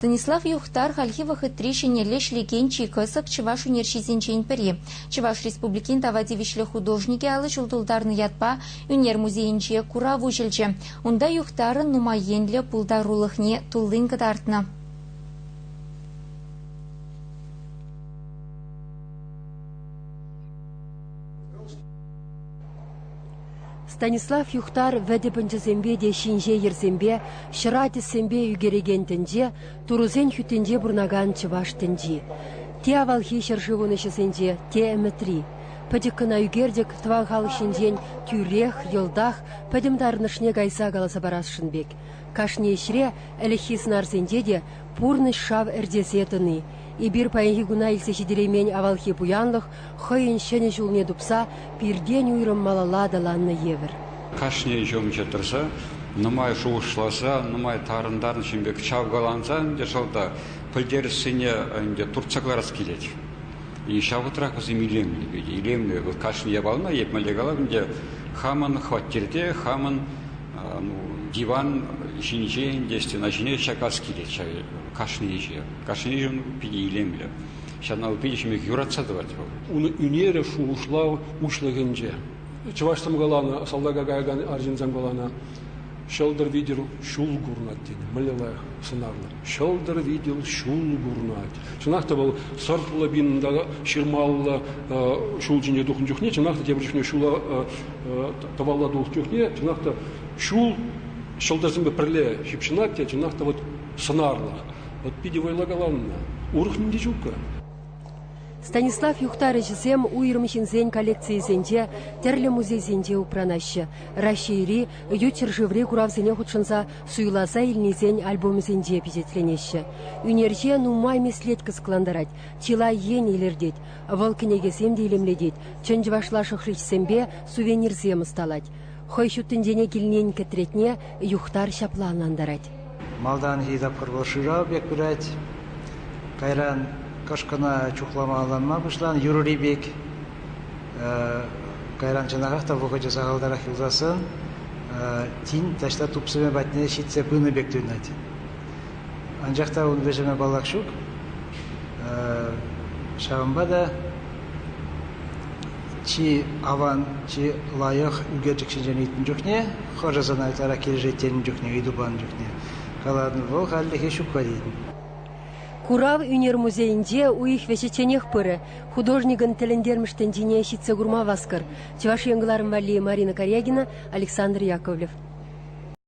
Донислав Юхтар хальхи вӑхӑтри ҫӗнӗлле ӗҫлекен чи кӑсӑк чӑваш ӳнерҫисенчен пӗри. Чӑваш Республикин тава тивӗҫлӗ художникӗ алӑ ҫул тултарнӑ ятпа ӳнер музейӗнче курав уҫӑлчӗ. Унта Юхтарӑн нумай енлӗ пултарулӑхне туллин кӑтартнӑ. Станислав Юхтар вӗтӗ пӑнчӑсемпе те ҫинҫе йӗрсемпе, ҫӑра тӗссемпе ӳкерекен тӗнче, турӑсен хӳттинче пурӑнакан чӑваш тӗнчи. Те авалхи ҫӗршывӑн ӗҫӗсенче, те ӗмӗтри. Пӗчӗк кӑна ӳкерчӗк тӑван халӑх ҫинчен тӳрех, йӑлтах, пӗтӗм тарӑнӑшне кайса каласа парасшӑн пек. Кашни ӗҫре, ӗлӗкхи сӑнарсенче те пурнӑҫ шав ӗрчесе тӑни, эпир паянхи куна илсе ҫитереймен авалхи пуянлӑх хӑйӗн ҫӗнӗ ҫулне тупса пиртен уйрӑм малалла аталаннӑ евӗр. Кашни ҫумҫӑ тӑрса нумай шухӑшласа, нумай тарӑн-тарӑн ҫын пек чавкаланса ӗнтӗ шалта пӗлтерӗшсене ӗнтӗ туртса кӑларас килет. Ҫав вӑхӑтрах вӗсем илемлипе те илемлӗ. Вӑл кашни япалана этмелле калап ӗнтӗ, хамӑн хваттерте, хамӑн диван ҫинче ӗнтӗ стена ҫине чакас килет ҫав кашни ӗҫе. Кашни ҫын питӗ илемлӗ. Ҫавна витӗ юратса тӑвать вӑл. Ун ӳнерӗ, шухӑшлав уҫлӑхӗнче. Чӑваш каланӑ, салтака каякан арҫынсем каланӑ, ҫӑлтӑр витӗр ҫул курӑнать тет. Мӗнле лайӑх сӑнарлӑ. Ҫӑлтӑр витӗр ҫул курӑнать. Чӑнах та вӑл сӑртлӑ пинӑнта ҫырмаллӑ ҫул ҫинче тухнӑ чухне, чӑнах та тепӗр чухне ҫула тӑвалла тухнӑ чухне, чӑнах та ҫул ҫӑлтӑрсемпе пӗрле ҫыпҫӑнать те, чӑнах та вот сӑнарлӑх. От питӗ вӑйла каланӑ. Урӑх ним те ҫук-ха. Станислав юхтарӑҫӗсем уйрӑм ҫынсен коллекцийӗсенче, тӗрлӗ музейсенче упранаҫҫӗ, Раҫҫейри ют ҫӗршыври куравсене хутшӑнса суйласа илнисен альбомӗсенче пичетленеҫҫӗ. Ӳнерҫе нумай меслет кӑсӑклантарать, чылай ен илӗртет. Вӑл кӗнекесем те илемлетет, чӑн чӑвашла шӑхричсемпе сувенирсем ӑсталать. Хӑй ҫуттинчене килнин кӗтретне Юхтар ҫапла ӑнлантарать. Малтанхи тапхӑр вӑл шырав пек пырать. Кайран кӑшкӑна чухлама-алланма пуҫланӑ юрӑри пек. Кайран чӑнахах та вӑхӑчӗ сахалтарах юлсассӑн тин таҫта тупсӑмӗ патне ҫитсе пынӑ пек туйӑнать. Анчах та ун вӗҫӗме паллах ҫук. Ҫавӑнпа та чи аван, чи лайӑх ӳкерчӗк ҫинчен ыйтнӑ чухне, хӑшӗ сана ытларах килӗшет тенӗ чухне, ыйту панӑ чухне калатӑн, вӑл хальлӗхе ҫукпа тетӗн. Курав ӳнер музейӗнче уйӑх вӗҫӗчченех пырӗ. Художникӑн тӗлӗнтермӗш тӗнчине ҫитсе курма васкӑр. Чӑваш Ен кӑларӑм валли Марина Корягина, Александр Яковлев.